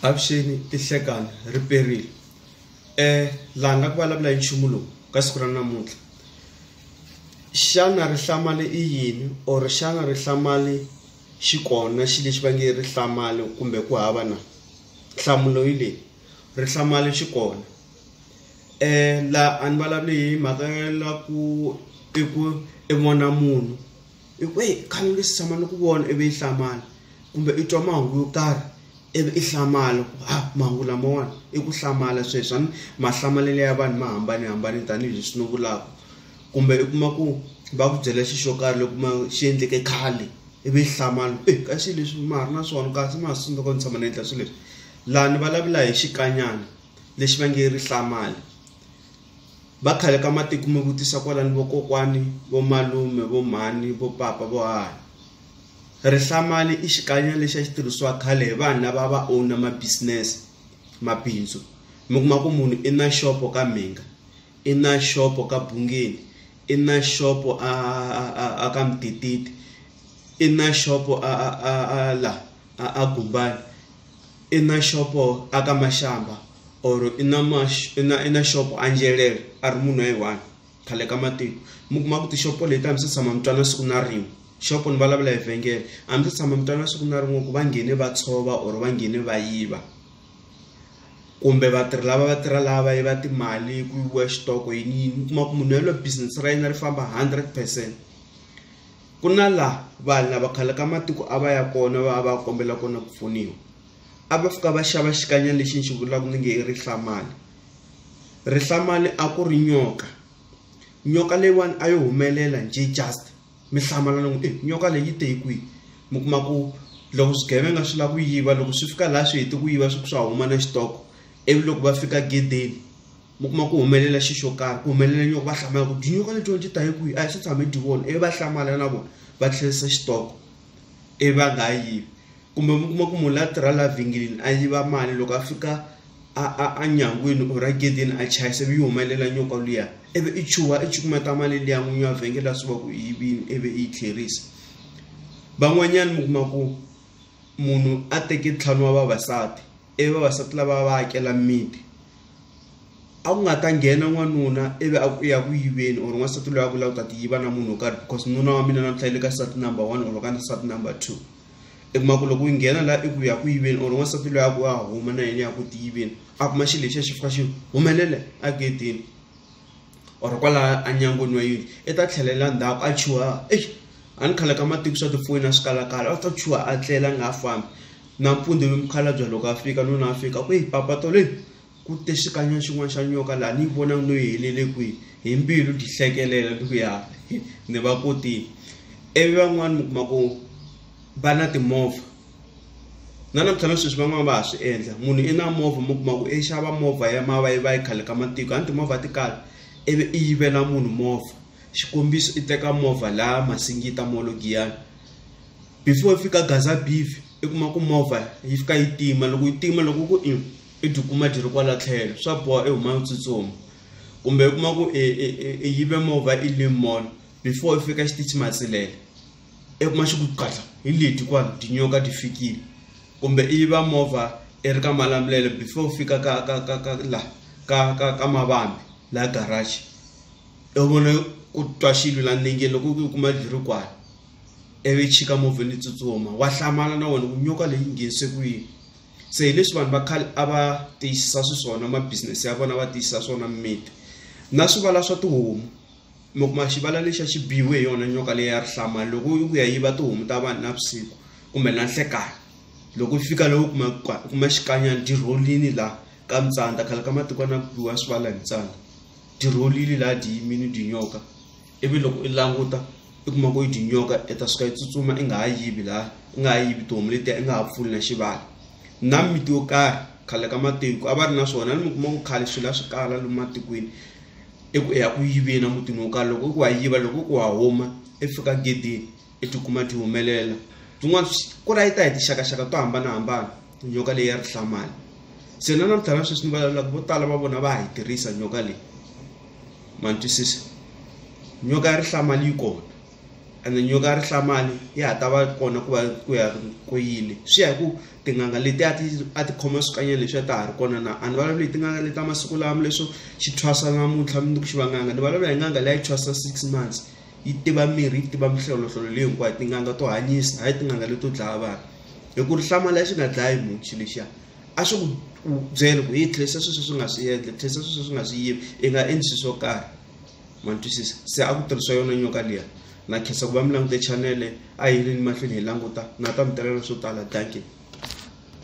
avuxeni tihlekani ri perile um laha nga ku vulavula hi nchumu lowu ka siku ra namuntlha xana rihlamali i yini or xana rihlamali xi kona xi lexi va nge rihlamali kumbe ku hava na nhlamulo yi leyi rihlamali xi kona um laha a ni vulavuli hi mhaka ya la ku i ku i vona munhu i ku eyi khale ni tshama ni ku vona ivi i hlamala kumbe i twa mahungu yo karhi ivi i hlamala ku ha mahungu lamawani i ku hlamala sweswi a ni mahlamalelo ya vanhu ma hambanahambane tanihileswi ni vulaka kumbe i kuma ku va ku byela xi xo karhi loko ma xi endleke khale ivi i hlamala e ka xi leswi ma ha ri na swona kasi ma ha swi tsundzuka ni tshama ni endla swilo leswi laha ni vulavula hi xikanyana lexi va nge rihlamali. va khale ka matiko mi vutisa kwalani vokokwani vo malume vo mhani vo papa vo hahani rihlamali i xikanya lexi a xi tirhisiwa khale hi vanhu lava va owna ma-business mabindzu mi kuma ku munhu i na xopo ka mhinga i na xopo ka bungeni i na xopo a a ka mutititi i na xopo a a a la a a gumbani i na shopo a ka mashamba or i na mash- i na i na shopo a njelele a ri munhu wa yi one khale ka matiko mi kuma ku tixopo leti a mi se tshama mi twana siku na rin'we xopo ni vulavula hi vhengele a mi se tshama mi twana siku na rin'we ku va nghene va tshova or va nghene va yiva kumbe vatirhi lava va tirha lava va yiva timali ku yiviwa xitoko yini yini mi kuma ku munhu yaloye business ra yena ri famba hundred percent. Ku na la vanhu lava khale ka matiko a va ya kona va va kombela kona ku pfuniwa a va fika va xava xikanyana lexi ni xi vulaka ni nge i rihlamani rihlamani a ku ri nyoka nyoka leyiwani a yo humelela njhe just mi hlamala ni ku i nyoka leyi te hi kwihi mi kuma ku loko swigevenga swi lava ku yiva loko swi fika laha swi heti ku yiva swi swa huma na xitoko ivi loko va fika gedeni. mi kuma ku humelela xi xo karhi ku humelela nyoka va hlamala ku tinyoka letiwani ti ta hi kwihi a hi swi tshame hi ti vona ivi va hlamala na vona va tlherisa xitoko ivi va nga ha yivi kumbe mi kuma ku munhu la tirha laha vhengeleni a yiva mali loko a fika a a a nyangweni or a gedeni a chayisa ivi yi humelela nyoka luya ivi i chuha i cukumeta mali liya n'winyi wa vhengele a swi va ku i yivini ivi i yi tlherisa van'wanyani mi kuma ku munhu a teke ntlhanu wa vavasati ivi vavasati lava va akela mimiti a ku nga ta nghena n'wanuna ivi a ku ya ku yiveni or n'wansati loyi a ku lava ku ta ti yiva na munhu wo karhi because nuna wa mina namuntlha yi le ka sati number one or ka sati number two i kuma ku loko yi nghena laha i ku ya ku yiveni or n'wansati loyi a ku a huma na yena ya ku ti yiveni a kuma xilo lexiya xi fika xi humelela a gedeni or kwalaya enyangweni wa yindlu i ta tlhelela ndzhaku a chuha eish a ni khale ka matiko swa tifoyini a swi kalakala a ta chuha a tlela a nga ha fambi nampundzu ivi mukhalabye loko a fika nuna a fika ku yi papa tole ku te xikanyana xin'wana xa nyoka laha ni yi vona no yi helele kwihi hi mbilu ti hlekelela ni ku ya ni va kotile ivi van'wani mi kuma ku va na timovha na namuntlha na sweswi van'wana va ha swi endla munhu i na movha mi kuma ku i xava movha ya mavayivayi khale ka matiko a ni timovha ti kala ivi i yivela munhu movha xikombiso i teka movha laya masingita molo giyani before i fika gaza beef i kuma ku movha yi fika yi tima loko yi tima loko ku i i byi kuma byi ri kwala tlhelo swa boha i huma u tsutsuma kumbe u kuma ku i yive movha i le mall before i fika xitichi matsilela i kuma xi ku qatla hi leti kwani tinyoka ti fikile kumbe i va movha i ri ka malamulelo before u fika ka ka ka ka la ka ka ka mavambi la garage i vone ku twa xilo la nenge loko u kuma byi ri kwala ivi chika movheni yi tsutsuma wa hlamala na wena ku nyoka leyi nghenise ku yini se hi leswi vanhu va khale a va tiyisisa swiswona ma business ya vona va tiyisisa swona mimiti na swivala swa tihomu mi kuma xivala lexi a xi biwe hi yona nyoka leyi ya rihlama loko yi ku ya yiva tihomu ta vanhu navusiku kumbe na nhlekani loko yi fika loko kuma kuma xikanyana dirholini laha ka mitsandza khale ka matiko na biwa swivala hi mitsandza dirholini laha dyi yimini dyinyoka ivi loko i languta i kuma ku yi dyinyoka i ta suka yi tsutsuma i nga ha yivi laha i nga ha yivi tihomu letiya i nga ha pfuli na xivala na miti yo karhi khale ka matiko a va ri na swona ni mi kuma ku khale swilo a swi kala lomu matikweni i ku i ya ku yiveni emutini wo karhi loko i ku wa yiva loko i ku wa huma i fika gedeni i tikuma ti humelela tin'wana ku ra yi ta hi tixakaxaka to hambanahambana nyoka leyi ya rihlamali se na namuntlha na sweswi ni vulavulaka vo tala va vona va ha yi tirhisa nyoka leyi ma ni twisisa nyoka ya rihlamali yi kona ene nyoka ya rihlamani ya ha ta va kona ku va ku ya ku yini swi ya hi ku tin'anga leti a ti a ti khoma swikanyana leswi a ta ha ri kona na a ni vulavuli hi tin'anga leti ta masiku lama leswo xi thwasa namuntlha mundzuku xi va n'anga ni vulavula hi n'anga leyi thwasa six months yi tiva mirhi yi tiva mihlolohlolo leyi hinkwayo tin'anga to hanyisa hayi tin'anga leto dlaya vanhu hi ku rihlama lexi nga dlayi munhu xi lexiya a swi ku byela ku yi tlherisa sweswo swi nga swi endla tlherisa sweswo swi nga swi yivi i nga endli swi swo karhi ma ni twisisa se a ku tirhisa yona nyoka liya na khensa ku va mi langute chanele a hi ri ni mahlweni hi languta na ta mi talela swo tala dankie